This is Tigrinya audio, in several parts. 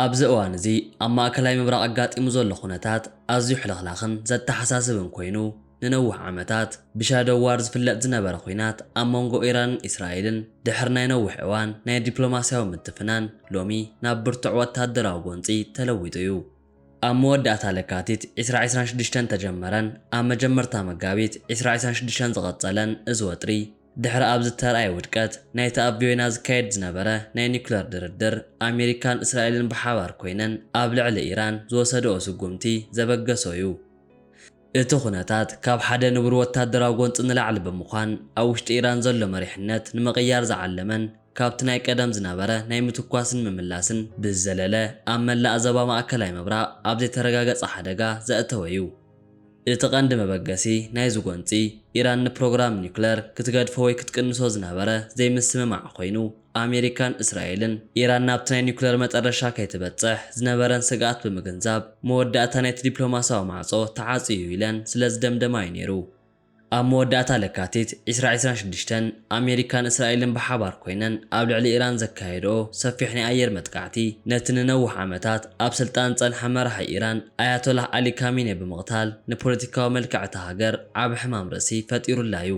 ኣብዚ እዋን እዚ ኣብ ማእከላይ ምብራቕ ኣጋጢሙ ዘሎ ኩነታት ኣዝዩ ሕልኽላኽን ዘተሓሳስብን ኮይኑ፣ ንነውሕ ዓመታት ብ'ሻዶው ዋር ዝፍለጥ ዝነበረ ኹናት ኣብ መንጎ ኢራንን እስራኤልን ድሕሪ ናይ ነውሕ እዋን ናይ ዲፕሎማስያዊ ምትፍናን ሎሚ ናብ ብርቱዕ ወተሃደራዊ ጎንጺ ተለዊጡ እዩ። ኣብ መወዳእታ ለካቲት ዕስራ ዕስራን ሽዱሽተን ተጀመረን ኣብ መጀመርታ መጋቢት ዕስራ ዕስራን ሽዱሽተን ዝቐጸለን እዚ ወጥሪ፣ ድሕሪ ኣብ ዝተርኣየ ውድቀት ናይቲ ኣብ ቪዮና ዝካየድ ዝነበረ ናይ ኒኩለር ድርድር፣ ኣሜሪካን እስራኤልን ብሓባር ኮይነን ኣብ ልዕሊ ኢራን ዝወሰድኦ ስጉምቲ ዘበገሶ እዩ። እቲ ኩነታት ካብ ሓደ ንቡር ወታደራዊ ጎንጺ ንላዕሊ ብምዃን፣ ኣብ ውሽጢ ኢራን ዘሎ መሪሕነት ንምቕያር ዝዓለመን ካብቲ ናይ ቀደም ዝነበረ ናይ ምትኳስን ምምላስን ብዝዘለለ ኣብ መላእ ዘባ ማእከላይ ምብራቕ ኣብ ዘይተረጋገጸ ሓደጋ ዘእተወ እዩ። እቲ ቀንዲ መበገሲ ናይዚ ጎንጺ፣ ኢራን ንፕሮግራም ኒዩክለር ክትገድፎ ወይ ክትቅንሶ ዝነበረ ዘይምስምማዕ ኮይኑ፣ ኣሜሪካን እስራኤልን፣ ኢራን ናብቲ ናይ ኒዩክለር መጠረሻ ከይትበጽሕ ዝነበረን ስግኣት ብምግንዛብ፣ መወዳእታ ናይቲ ዲፕሎማስያዊ ማዕጾ ተዓጽዩ እዩ ኢለን ስለዝደምደማ'ዩ ነይሩ። ኣብ መወዳእታ ለካቲት ዕስራ ዕስራን ሽዱሽተን፣ ኣሜሪካን እስራኤልን ብሓባር ኰይነን ኣብ ልዕሊ ኢራን ዘካየድኦ ሰፊሕ ናይ ኣየር መጥቃዕቲ፣ ነቲ ንነውሕ ዓመታት ኣብ ስልጣን ዝጸንሐ መራሒ ኢራን ኣያቶላህ ዓሊ ካሚኔ ብምቕታል ንፖለቲካዊ መልክዕ እታ ሃገር ዓቢ ሕማም ርእሲ ፈጢሩላ'ዩ።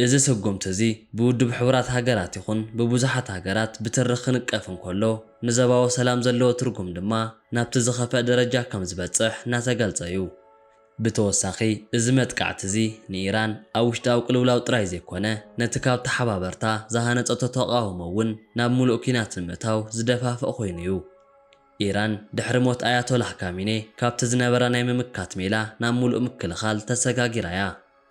እዚ ስጕምቲ'ዚ ብውድብ ሕቡራት ሃገራት ይዅን ብብዙሓት ሃገራት ብትሪ ክንቀፍ እንከሎ፣ ንዘባዊ ሰላም ዘለዎ ትርጕም ድማ ናብቲ ዝኸፍኣ ደረጃ ከም ዝበጽሕ እናተገልጸ'ዩ። ብተወሳኺ፣ እዚ መጥቃዕቲ'ዚ ንኢራን ኣብ ውሽጣዊ ቅልውላው ጥራይ ዘይኮነ፣ ነቲ ካብ ተሓባበርታ ዝሃነጸቶ ተቓውሞ'ውን ናብ ምሉእ ኲናት ንምእታው ዝደፋፍእ ኮይኑ'ዩ። ኢራን ድሕሪ ሞት ኣያቶላህ ካሚኔ ካብቲ ዝነበራ ናይ ምምካት ሜላ ናብ ምሉእ ምክልኻል ተሰጋጊራ'ያ።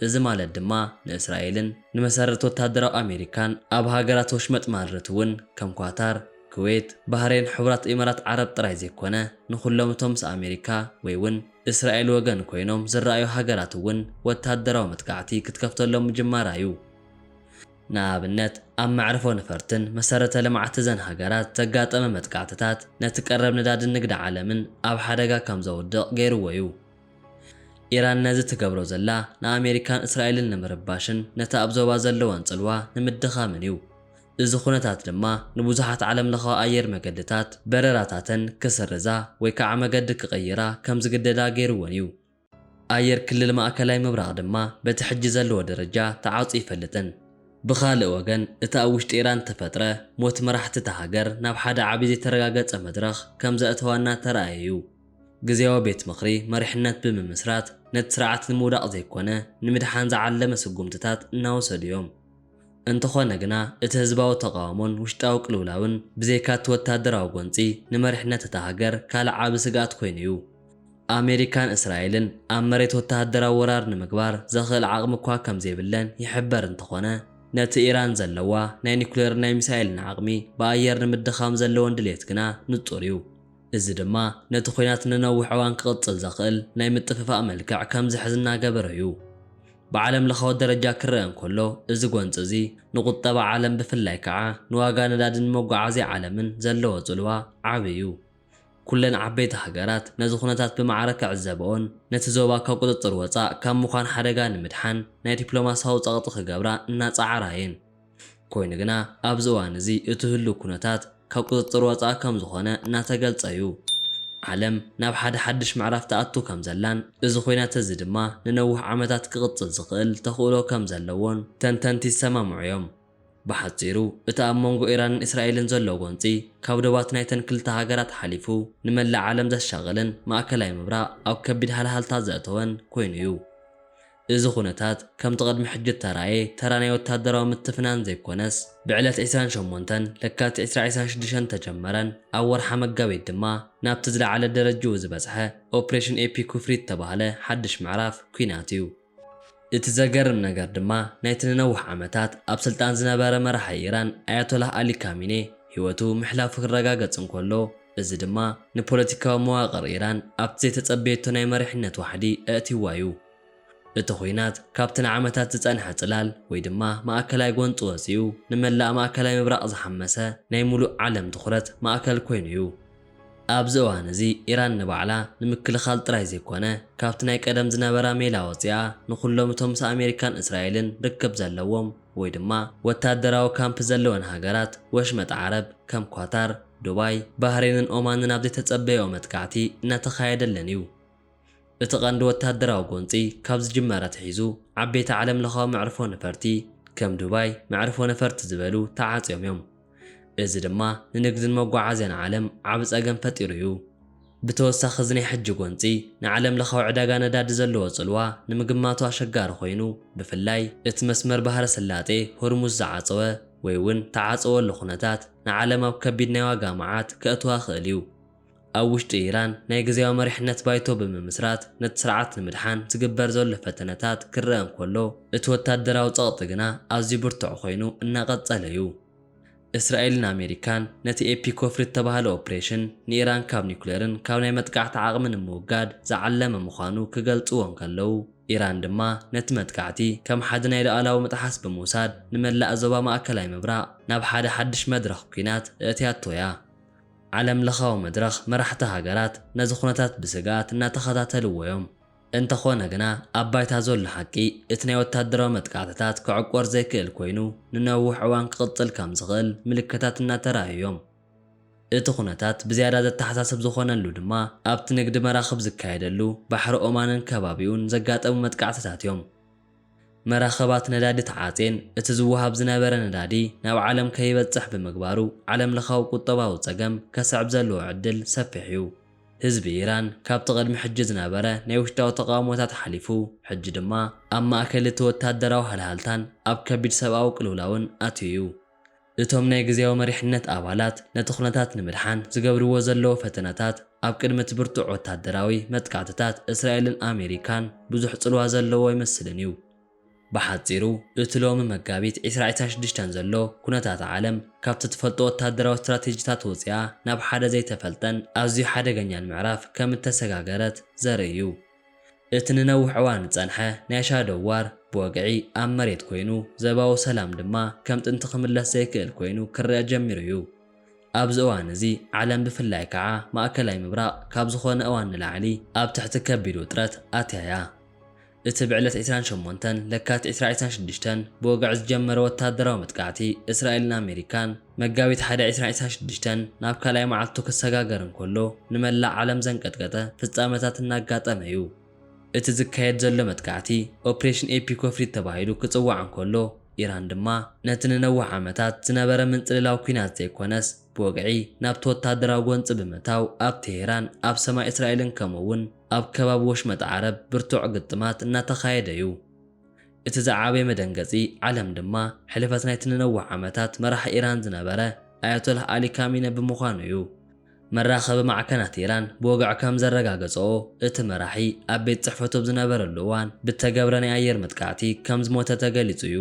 እዚ ማለት ድማ ንእስራኤልን ንመሰረት ወታደራዊ ኣሜሪካን ኣብ ሃገራት ወሽመጥ ማልረት እውን ከም ኳታር፣ ክዌት፣ ባህሬን፣ ሕቡራት ኢማራት ዓረብ ጥራይ ዘይኮነ ንኹሎም እቶም ምስ ኣሜሪካ ወይ እውን እስራኤል ወገን ኮይኖም ዝረኣዩ ሃገራት እውን ወታደራዊ መጥቃዕቲ ክትከፍተሎም ምጅማራ እዩ። ንኣብነት ኣብ መዕርፎ ነፈርትን መሰረተ ልምዓት እዘን ሃገራት ዘጋጠመ መጥቃዕትታት ነቲ ቀረብ ነዳድን ንግዲ ዓለምን ኣብ ሓደጋ ከም ዘውድቕ ገይሩዎ እዩ። ኢራን ነዚ ትገብሮ ዘላ ንኣሜሪካን እስራኤልን ንምርባሽን ነቲ ኣብ ዞባ ዘለወን ጽልዋ ንምድኻምን እዩ። እዚ ኩነታት ድማ ንብዙሓት ዓለምለኻዊ ኣየር መገድታት በረራታተን ክስርዛ ወይ ከዓ መገዲ ክቕይራ ከም ዝግደዳ ገይሩወን እዩ። ኣየር ክልል ማእከላይ ምብራቕ ድማ በቲ ሕጂ ዘለዎ ደረጃ ተዓጹ ኣይፈልጥን። ብኻልእ ወገን እቲ ኣብ ውሽጢ ኢራን እተፈጥረ ሞት መራሕቲ እታ ሃገር ናብ ሓደ ዓቢ ዘይተረጋገጸ መድረኽ ከም ዘእተዋና እተራእየ እዩ። ግዝያዊ ቤት ምኽሪ መሪሕነት ብምምስራት ነቲ ስርዓት ንምውዳቕ ዘይኮነ ንምድሓን ዝዓለመ ስጉምትታት እናወሰዱ እዮም። እንተኾነ ግና እቲ ህዝባዊ ተቓውሞን ውሽጣዊ ቅልውላውን ብዘይካ እቲ ወታደራዊ ጎንፂ ንመሪሕነት እታ ሃገር ካልእ ዓቢ ስግኣት ኮይኑ እዩ። ኣሜሪካን እስራኤልን ኣብ መሬት ወታደራዊ ወራር ንምግባር ዘኽእል ዓቕሚ እኳ ከምዘይብለን ይሕበር እንተኾነ ነቲ ኢራን ዘለዋ ናይ ኒኩሌርን ናይ ሚሳኤልን ዓቕሚ ብኣየር ንምድኻም ዘለወን ድልየት ግና ንፁር እዩ። እዚ ድማ ነቲ ኲናት ንነዊሕ እዋን ክቕጽል ዘኽእል ናይ ምጥፍፋእ መልክዕ ከም ዝሕዝ እናገበሮ እዩ። ብዓለምለኻዊ ደረጃ ክረኣ እንከሎ፣ እዚ ጐንጺ እዚ ንቝጠባ ዓለም ብፍላይ ከኣ ንዋጋ ነዳድን መጓዓዝያ ዓለምን ዘለዎ ጽልዋ ዓቢ እዩ። ኵለን ዓበይቲ ሃገራት ነዚ ኵነታት ብማዕረ ክዕዘበኦን ነቲ ዞባ ካብ ቍጽጽር ወጻእ ካብ ምዃን ሓደጋ ንምድሓን ናይ ዲፕሎማስያዊ ጸቕጢ ክገብራ እናጸዓራ እየን። ኮይኑ ግና ኣብዚ እዋን እዚ እቲ ህሉው ኩነታት ካብ ቁፅፅር ወፃኢ ከምዝኾነ እናተገልፀ ዩ። ዓለም ናብ ሓደ ሓዱሽ ምዕራፍ ትኣቱ ከምዘላን እዚ ኹናት እዚ ድማ ንነውሕ ዓመታት ክቕፅል ዝኽእል ተኽእሎ ከምዘለዎን ተንተንቲ ይሰማምዑ ዮም። ብሓፂሩ እቲ ኣብ መንጎ ኢራንን እስራኤልን ዘሎ ጎንፂ ካብ ዶባት ናይተን ክልተ ሃገራት ሓሊፉ ንመላእ ዓለም ዘሻቕልን ማእከላይ ምብራቕ ኣብ ከቢድ ሃልሃልታ ዘእተወን ኮይኑ ዩ። እዚ ኩነታት ከምቲ ቅድሚ ሕጂ እተራእየ ተራ ናይ ወተሃደራዊ ምትፍናን ዘይኮነስ፣ ብዕለት ዕስራን ሸሞንተን ለካቲት ዕስራ ዕስራን ሽዱሽተን እተጀመረን ኣብ ወርሓ መጋቢት ድማ ናብቲ ዝለዓለ ደረጅኡ ዝበጽሐ ኦፕሬሽን ኤፒክ ውፍሪ እተባህለ ሓድሽ ምዕራፍ ኲናት እዩ። እቲ ዘገርም ነገር ድማ ናይቲ ንነውሕ ዓመታት ኣብ ስልጣን ዝነበረ መራሒ ኢራን ኣያቶላህ ኣሊ ካሚኔ ህይወቱ ምሕላፉ ክረጋገጽ እንከሎ፣ እዚ ድማ ንፖለቲካዊ መዋቕር ኢራን ኣብቲ ዘይተጸበየቶ ናይ መሪሕነት ዋሕዲ ኣእትይዋ'ዩ። እቲ ኹናት ካብቲ ንዓመታት ዝጸንሐ ጽላል ወይ ድማ ማእከላይ ጎንጺ ወጺኡ ንመላእ ማእከላይ ምብራቕ ዝሓመሰ ናይ ምሉእ ዓለም ትኹረት ማእከል ኮይኑ'ዩ። ኣብዚ እዋን እዚ ኢራን ንባዕላ ንምክልኻል ጥራይ ዘይኮነ ካብቲ ናይ ቀደም ዝነበራ ሜላ ወጺኣ ንኹሎም እቶም ምስ ኣሜሪካን እስራኤልን ርክብ ዘለዎም ወይ ድማ ወታደራዊ ካምፕ ዘለወን ሃገራት ወሽመጥ ዓረብ ከም ኳታር፣ ዱባይ፣ ባህሬንን ኦማንን ኣብ ዘይተጸበየኦ መጥቃዕቲ እናተኻየደለን እዩ። እቲ ቀንዲ ወታደራዊ ጎንጺ ካብ ዝጅመር ኣትሒዙ ዓበይቲ ዓለምለኻዊ መዕርፎ ነፈርቲ ከም ዱባይ፣ መዕርፎ ነፈርቲ ዝበሉ ተዓጽዮም እዮም። እዚ ድማ ንንግድን መጓዓዝያን ዓለም ዓቢ ጸገም ፈጢሩ እዩ። ብተወሳኺ እዚ ናይ ሕጂ ጎንጺ ንዓለምለኻዊ ዕዳጋ ነዳዲ ዘለዎ ጽልዋ ንምግማቱ ኣሸጋሪ ኮይኑ፣ ብፍላይ እቲ መስመር ባህረ ሰላጤ ሆርሙዝ ዝዓጸወ ወይ'ውን ተዓጸወሉ ኩነታት ንዓለም ኣብ ከቢድ ናይ ዋጋ መዓት ከእትዋ ይኽእል እዩ። ኣብ ውሽጢ ኢራን ናይ ግዝያዊ መሪሕነት ባይቶ ብምምስራት ነቲ ስርዓት ንምድሓን ዝግበር ዘሎ ፈተነታት ክረኣ እንከሎ፣ እቲ ወታደራዊ ጸቕጢ ግና ኣዝዩ ብርቱዕ ኮይኑ እናቐጸለ'ዩ። እስራኤልን ኣሜሪካን ነቲ ኤፒክ ወፍሪ እተባህለ ኦፕሬሽን ንኢራን ካብ ኒኩሌርን ካብ ናይ መጥቃዕቲ ዓቕሚ ንምውጋድ ዝዓለመ ምዃኑ ክገልጽዎ እንከለው፣ ኢራን ድማ ነቲ መጥቃዕቲ ከም ሓደ ናይ ሉኣላዊ ምጥሓስ ብምውሳድ ንመላእ ዞባ ማእከላይ ምብራቕ ናብ ሓደ ሓድሽ መድረኽ ኲናት እእትያቶ'ያ። ዓለም ለኻዊ መድረኽ መራሕቲ ሃገራት ነዚ ኩነታት ብስግኣት እናተኸታተልዎ'ዮም። እንተኾነ ግና ኣብ ባይታ ዘሎ ሓቂ እቲ ናይ ወታደራዊ መጥቃዕትታት ክዕቆር ዘይክእል ኮይኑ ንነውሕ እዋን ክቕጽል ከም ዝኽእል ምልክታት እናተራእዩ'ዮም። እቲ ኩነታት ብዝያዳ ዘተሓሳስብ ዝኾነሉ ድማ ኣብቲ ንግዲ መራኽብ ዝካየደሉ ባሕሪ ኦማንን ከባቢኡን ዘጋጠሙ መጥቃዕትታት'ዮም። መራኽባት ነዳዲ ተዓጽየን፣ እቲ ዝወሃብ ዝነበረ ነዳዲ ናብ ዓለም ከይበጽሕ ብምግባሩ ዓለምለኻዊ ቁጠባዊ ጸገም ከስዕብ ዘለዎ ዕድል ሰፊሕ'ዩ። ህዝቢ ኢራን ካብቲ ቅድሚ ሕጂ ዝነበረ ናይ ውሽጣዊ ተቓውሞታት ሓሊፉ ሕጂ ድማ ኣብ ማእከል እቲ ወተሃደራዊ ሃልሃልታን ኣብ ከቢድ ሰብኣዊ ቅልውላውን ኣትዩ'ዩ። እቶም ናይ ግዝያዊ መሪሕነት ኣባላት ነቲ ኩነታት ንምድሓን ዝገብርዎ ዘለዉ ፈተነታት፣ ኣብ ቅድሚ እቲ ብርቱዕ ወተሃደራዊ መጥቃዕትታት እስራኤልን ኣሜሪካን ብዙሕ ጽልዋ ዘለዎ ኣይመስልን እዩ። ብሓጺሩ እቲ ሎሚ መጋቢት ዕስራ ዕስራን ሽዱሽተን ዘሎ ኩነታት ዓለም ካብቲ ትፈልጦ ወተሃደራዊ ስትራቴጂታት ወጺኣ ናብ ሓደ ዘይተፈልጠን ኣዝዩ ሓደገኛን ምዕራፍ ከም እተሰጋገረት ዘርኢ እዩ። እቲ ንነዊሕ እዋን ዝጸንሐ ናይ ሻዶው ዋር ብወግዒ ኣብ መሬት ኮይኑ፣ ዘባዊ ሰላም ድማ ከም ጥንቲ ክምለስ ዘይክእል ኮይኑ ክረኣ ጀሚሩ እዩ። ኣብዚ እዋን እዚ ዓለም ብፍላይ ከኣ ማእከላይ ምብራቕ ካብ ዝኾነ እዋን ንላዕሊ ኣብ ትሕቲ ከቢድ ውጥረት ኣትያ እያ። እቲ ብዕለት ዕስራን ሸሞንተን ለካቲት ዕስራ ዕስራን ሽዱሽተን ብወግዒ ዝጀመረ ወተሃደራዊ መጥቃዕቲ እስራኤልን ኣሜሪካን፣ መጋቢት ሓደ ዕስራ ዕስራ ሽዱሽተን ናብ ካልኣይ መዓልቱ ክሰጋገር እንከሎ ንመላእ ዓለም ዘንቀጥቀጠ ፍጻመታት እናጋጠመ እዩ። እቲ ዝካየድ ዘሎ መጥቃዕቲ ኦፕሬሽን ኤፒ ኮፍሪት ተባሂሉ ክጽዋዕ እንከሎ፣ ኢራን ድማ ነቲ ንነዊሕ ዓመታት ዝነበረ ምንጽልላው ኲናት ዘይኮነስ ብወግዒ ናብቲ ወተሃደራዊ ጎንጺ ብምእታው ኣብ ቴሄራን ኣብ ሰማይ እስራኤልን ከምኡ'ውን ኣብ ከባቢ ወሽመጥ ዓረብ ብርቱዕ ግጥማት እናተኻየደ እዩ። እቲ ዝዓበየ መደንገጺ ዓለም ድማ ሕልፈት ናይቲ ንነዊሕ ዓመታት መራሒ ኢራን ዝነበረ ኣያቶላህ ኣሊ ካሚነ ብምዃኑ'ዩ። መራኸቢ ማዕከናት ኢራን ብወግዒ ከም ዘረጋገጸኦ፣ እቲ መራሒ ኣብ ቤት ጽሕፈቱ ኣብ ዝነበረሉ እዋን ብእተገብረ ናይ ኣየር መጥቃዕቲ ከም ዝሞተ ተገሊጹ'ዩ።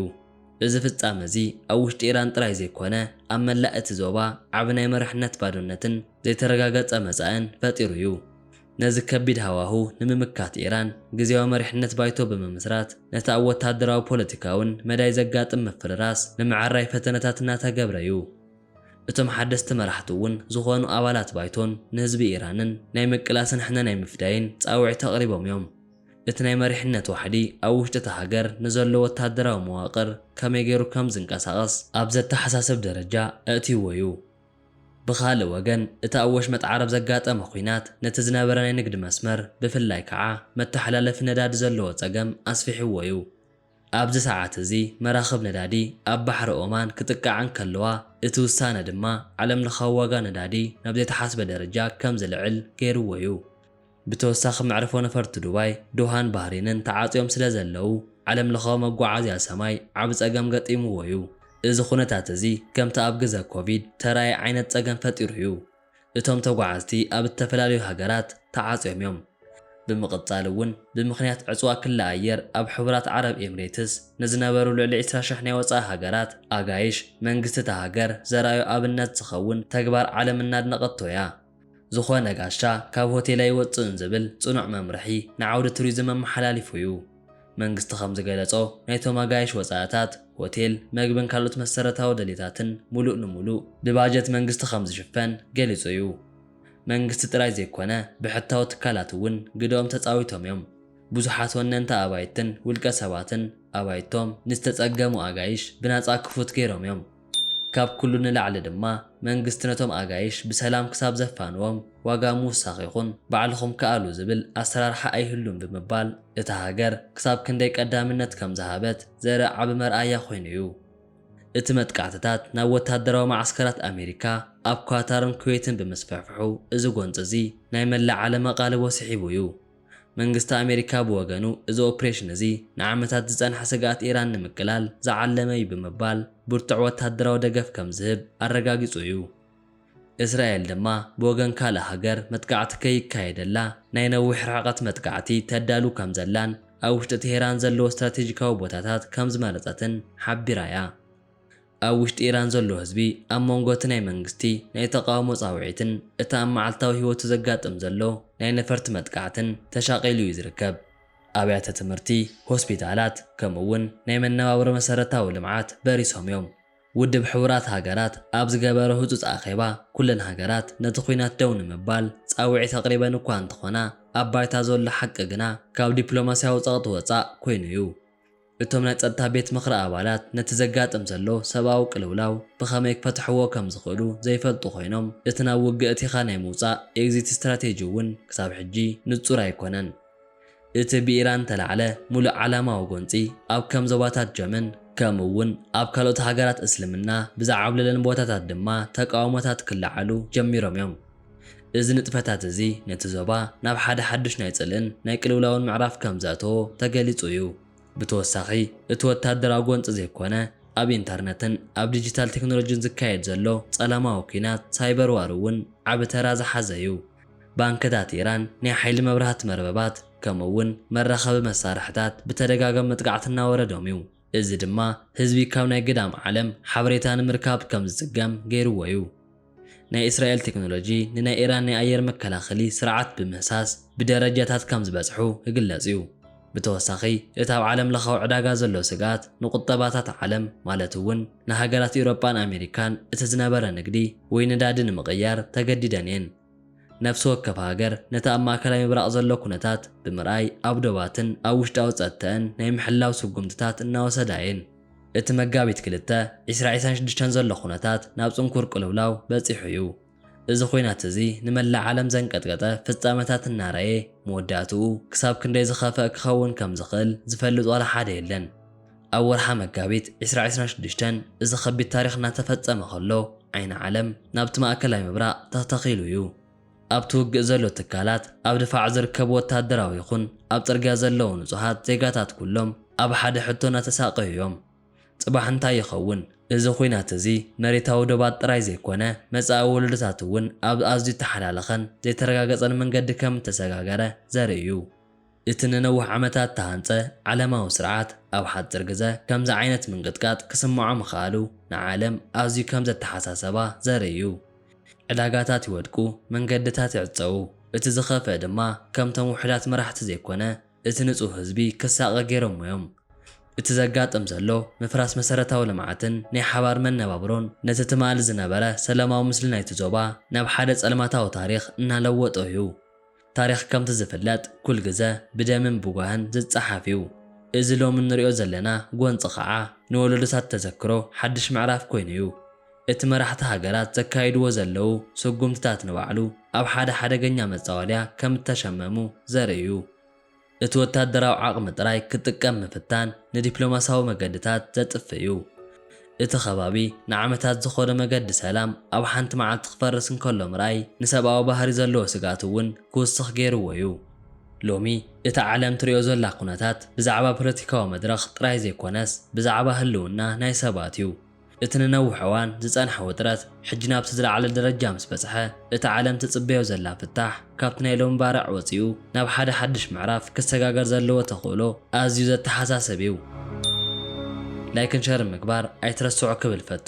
እዚ ፍጻመ'ዚ ኣብ ውሽጢ ኢራን ጥራይ ዘይኮነ ኣብ መላእ እቲ ዞባ ዓቢ ናይ መሪሕነት ባዶነትን ዘይተረጋገጸ መጻእን ፈጢሩ'ዩ። ነዚ ከቢድ ሃዋሁ ንምምካት ኢራን ግዝያዊ መሪሕነት ባይቶ ብምምስራት ነቲ ኣብ ወታደራዊ ፖለቲካውን መዳይ ዘጋጥም ምፍርራስ ንምዕራይ ፈተነታት እናተገብረ'ዩ። እቶም ሓደስቲ መራሕቲ'ውን ዝኾኑ ኣባላት ባይቶን ንህዝቢ ኢራንን ናይ ምቅላስን ሕነ ናይ ምፍዳይን ጻውዒት ኣቕሪቦም'ዮም። እቲ ናይ መሪሕነት ዋሕዲ ኣብ ውሽጢ እታ ሃገር ንዘሎ ወታደራዊ መዋቕር ከመይ ገይሩ ከምዝንቀሳቐስ ኣብ ዘተሓሳስብ ደረጃ ኣእትይዎ'ዩ። ብኻልእ ወገን፣ እቲ ኣብ ወሽመጥ ዓረብ ዘጋጠመ ኲናት፣ ነቲ ዝነበረ ናይ ንግዲ መስመር፣ ብፍላይ ከኣ መተሓላለፊ ነዳዲ ዘለዎ ጸገም ኣስፊሕዎ'ዩ። ኣብዚ ሰዓት እዚ መራኽብ ነዳዲ ኣብ ባሕሪ ኦማን ክጥቅዓ እንከለዋ፣ እቲ ውሳነ ድማ ዓለምለኻዊ ዋጋ ነዳዲ ናብ ዘይተሓስበ ደረጃ ከም ዝልዕል ገይርዎ'ዩ። ብተወሳኺ መዕርፎ ነፈርቲ ዱባይ፣ ዶሃን ባህሬንን ተዓጽዮም ስለ ዘለዉ፣ ዓለም ለኻዊ መጓዓዝያ ሰማይ ዓቢ ጸገም ገጢምዎ'ዩ። እዚ ዅነታት'ዚ ከምቲ ኣብ ግዘ ኮቪድ ተራእየ ዓይነት ጸገም ፈጢሩ'ዩ። እቶም ተጓዓዝቲ ኣብ እተፈላለዩ ሃገራት ተዓጽዮም'ዮም። ብምቕጻል'ውን ብምኽንያት ዕጽዋ ክሊ ኣየር ኣብ ሕቡራት ዓረብ ኤምሬትስ ንዝነበሩ ልዕሊ ዕስራ ሽሕ ናይ ወጻኢ ሃገራት ኣጋይሽ፣ መንግስቲ እታ ሃገር ዘርኣዮ ኣብነት ዝኸውን ተግባር ዓለም እናድነቐቶ'ያ። ዝኾነ ጋሻ ካብ ሆቴል ኣይወጽእን ዝብል ጽኑዕ መምርሒ ንዓውዲ ቱሪዝም ኣመሓላሊፉ'ዩ። መንግስቲ ከምዝገለጾ ናይቶም ኣጋይሽ ወጻእታት፣ ሆቴል፣ መግብን ካልኦት መሰረታዊ ድሌታትን ሙሉእ ንሙሉእ ብባጀት መንግስቲ ከምዝሽፈን ገሊጹ'ዩ። መንግስቲ ጥራይ ዘይኮነ ብሕታዊ ትካላት እውን ግደኦም ተጻዊቶም'ዮም። ብዙሓት ወነንቲ ኣባይትን ውልቀ ሰባትን ኣባይቶም ንዝተጸገሙ ኣጋይሽ ብናጻ ክፉት ገይሮም'ዮም። ካብ ኩሉ ንላዕሊ ድማ መንግስቲ ነቶም ኣጋይሽ ብሰላም ክሳብ ዘፋንዎም ዋጋ ምውሳኽ ይኹን ባዕልኹም ክኣሉ ዝብል ኣሰራርሓ ኣይህሉን ብምባል እታ ሃገር ክሳብ ክንደይ ቀዳምነት ከም ዝሃበት ዘርኢ ዓቢ መርኣያ ኮይኑ እዩ። እቲ መጥቃዕትታት ናብ ወታደራዊ መዓስከራት ኣሜሪካ ኣብ ኳታርን ኩዌትን ብምስፍሕፍሑ እዚ ጎንጺ እዚ ናይ መላእ ዓለም ኣቓልቦ ስሒቡ እዩ። መንግስቲ ኣሜሪካ ብወገኑ፣ እዚ ኦፕሬሽን እዚ ንዓመታት ዝጸንሐ ስግኣት ኢራን ንምቅላል ዝዓለመ እዩ ብምባል ብርቱዕ ወተሃደራዊ ደገፍ ከም ዝህብ ኣረጋጊጹ እዩ። እስራኤል ድማ ብወገን ካልእ ሃገር መጥቃዕቲ ከይካየደላ ናይ ነዊሕ ርሕቐት መጥቃዕቲ ተዳሉ ከም ዘላን ኣብ ውሽጢ ቴህራን ዘለዎ ስትራቴጂካዊ ቦታታት ከም ዝመረጸትን ሓቢራ እያ። ኣብ ውሽጢ ኢራን ዘሎ ህዝቢ ኣብ መንጎ እቲ ናይ መንግስቲ ናይ ተቓውሞ ጻውዒትን እቲ ኣብ መዓልታዊ ህይወቱ ዘጋጥም ዘሎ ናይ ነፈርቲ መጥቃዕትን ተሻቒሉ እዩ ዝርከብ። ኣብያተ ትምህርቲ፣ ሆስፒታላት፣ ከምኡ'ውን ናይ መነባብሮ መሰረታዊ ልምዓት በሪሶም እዮም። ውድብ ሕቡራት ሃገራት ኣብ ዝገበሮ ህጹጽ ኣኼባ፣ ኩለን ሃገራት ነቲ ኲናት ደው ንምባል ጻውዒት ኣቕሪበን እኳ እንተኾና፣ ኣብ ባይታ ዘሎ ሓቂ ግና ካብ ዲፕሎማስያዊ ጸቕጢ ወጻእ ኮይኑ እዩ። እቶም ናይ ጸጥታ ቤት ምኽሪ ኣባላት ነቲ ዘጋጥም ዘሎ ሰብኣዊ ቅልውላው ብኸመይ ክፈትሕዎ ከም ዝኽእሉ ዘይፈልጡ ኮይኖም፣ እቲ ናብ ውግእ እቲኻ ናይ ምውጻእ፣ ኤግዚት ስትራቴጂ፣ እውን ክሳብ ሕጂ ንጹር ኣይኮነን። እቲ ብኢራን እተላዕለ ምሉእ ዓላማዊ ጎንጺ ኣብ ከም ዞባታት ጀመን ከምኡ እውን ኣብ ካልኦት ሃገራት እስልምና ብዝዓብለለን ቦታታት ድማ ተቃውሞታት ክለዓሉ ጀሚሮም እዮም። እዚ ንጥፈታት እዚ ነቲ ዞባ ናብ ሓደ ሓድሽ ናይ ጽልእን ናይ ቅልውላውን ምዕራፍ ከም ዘእተዎ ተገሊጹ እዩ። ብተወሳኺ፣ እቲ ወተሃደራዊ ጎንጺ ዘይኮነ ኣብ ኢንተርነትን ኣብ ዲጂታል ቴክኖሎጂን ዝካየድ ዘሎ ጸለማዊ ኲናት፣ ሳይበር ዋር፣ እውን ዓቢ ተራ ዝሓዘ እዩ። ባንክታት ኢራን፣ ናይ ሓይሊ መብራህቲ መርበባት፣ ከምኡ'ውን መራኸቢ መሳርሕታት ብተደጋጋሚ መጥቃዕቲ እናወረዶም እዩ። እዚ ድማ ህዝቢ ካብ ናይ ግዳም ዓለም ሓበሬታ ንምርካብ ከም ዝጽገም ገይርዎ'ዩ። ናይ እስራኤል ቴክኖሎጂ ንናይ ኢራን ናይ ኣየር መከላኸሊ ስርዓት ብምህሳስ ብደረጃታት ከም ዝበጽሑ ይግለጽ'ዩ። ብተወሳኺ እቲ ኣብ ዓለምለኻዊ ዕዳጋ ዘሎ ስግኣት ንቁጠባታት ዓለም ማለት'ውን ንሃገራት ኤውሮጳን ኣሜሪካን እቲ ዝነበረ ንግዲ ወይ ነዳዲ ንምቕያር ተገዲደን'የን። ነፍሲ ወከፍ ሃገር ነቲ ኣብ ማእከላይ ምብራቕ ዘሎ ኩነታት ብምርኣይ ኣብ ዶባትን ኣብ ውሽጣዊ ጸጥተእን ናይ ምሕላው ስጉምትታት እናወሰዳ እየን። እቲ መጋቢት ክልተ፣ ዕስራ ዒስራን ሽዱሽተን ዘሎ ኩነታት ናብ ጽንኩር ቅልውላው በጺሑ እዩ። እዚ ኹናት እዚ ንመላእ ዓለም ዘንቀጥቀጠ ፍጻመታት እናረኣየ፣ መወዳእትኡ ክሳብ ክንደይ ዝኸፍኣ ክኸውን ከም ዝኽእል ዝፈልጥ ዋላ ሓደ የለን። ኣብ ወርሓ መጋቢት ዕስራ ዕስራን ሽዱሽተን እዚ ከቢድ ታሪኽ እናተፈጸመ ከሎ ዓይኒ ዓለም ናብቲ ማእከላይ ምብራቕ ተተኺሉ እዩ። ኣብቲ ውግእ ዘሎ ትካላት፣ ኣብ ድፋዕ ዝርከቡ ወተሃደራዊ ይኹን ኣብ ጽርግያ ዘለዉ ንጹሃት ዜጋታት ኩሎም ኣብ ሓደ ሕቶ እናተሳቐዩ እዮም። ጽባሕ እንታይ ይኸውን? እዚ ኹናት እዚ መሬታዊ ዶባት ጥራይ ዘይኮነ መጻኢ ወለዶታት እውን ኣብ ኣዝዩ እተሓላለኸን ዘይተረጋገጸን መንገዲ ከም እተሰጋገረ ዘርኢ እዩ። እቲ ንነዊሕ ዓመታት እተሃንጸ ዓለማዊ ስርዓት ኣብ ሓጺር ግዘ ከምዚ ዓይነት ምንቅጥቃጥ ክስምዖ ምኽኣሉ ንዓለም ኣዝዩ ከም ዘተሓሳሰባ ዘርኢ እዩ። ዕዳጋታት ይወድቁ፣ መንገድታት ይዕጸዉ፣ እቲ ዝኸፍእ ድማ ከምቶም ውሑዳት መራሕቲ ዘይኮነ እቲ ንጹህ ህዝቢ ክሳቐ ገይሮሞ እዮም። እቲ ዘጋጥም ዘሎ ምፍራስ መሰረታዊ ልምዓትን ናይ ሓባር መነባብሮን ነቲ ትማሊ ዝነበረ ሰላማዊ ምስሊ ናይቲ ዞባ ናብ ሓደ ጸልማታዊ ታሪኽ እናለወጦ እዩ። ታሪኽ ከምቲ ዝፍለጥ ኩል ግዘ ብደምን ብጓህን ዝፀሓፍ እዩ። እዚ ሎሚ እንሪኦ ዘለና ጎንፂ ከዓ ንወለዶታት ተዘክሮ ሓዱሽ ምዕራፍ ኮይኑ እዩ። እቲ መራሕቲ ሃገራት ዘካይድዎ ዘለዉ ስጉምትታት ንባዕሉ ኣብ ሓደ ሓደገኛ መፃወድያ ከም እተሸመሙ ዘርኢ እዩ። እቲ ወታደራዊ ዓቕሚ ጥራይ ክጥቀም ምፍታን ንዲፕሎማስያዊ መገድታት ዘጥፍእ እዩ። እቲ ከባቢ ንዓመታት ዝኾነ መገዲ ሰላም ኣብ ሓንቲ መዓልቲ ክፈርስ እንከሎ ምርኣይ ንሰብኣዊ ባህሪ ዘለዎ ስግኣት እውን ክውስኽ ገይርዎ እዩ። ሎሚ እታ ዓለም ትሪኦ ዘላ ኩነታት ብዛዕባ ፖለቲካዊ መድረኽ ጥራይ ዘይኮነስ ብዛዕባ ህልውና ናይ ሰባት እዩ። እቲ ንነውሕ እዋን ዝጸንሐ ውጥረት ሕጂ ናብቲ ዝለዓለ ደረጃ ምስ በጽሐ፣ እታ ዓለም ትጽበዮ ዘላ ፍታሕ ካብቲ ናይ ሎሚ ባርዕ ወጺኡ ናብ ሓደ ሓድሽ ምዕራፍ ክሰጋገር ዘለዎ ተኽእሎ ኣዝዩ ዘተሓሳስብ እዩ። ላይክን ሸርን ምግባር ኣይትረስዑ ክብል እፈቱ።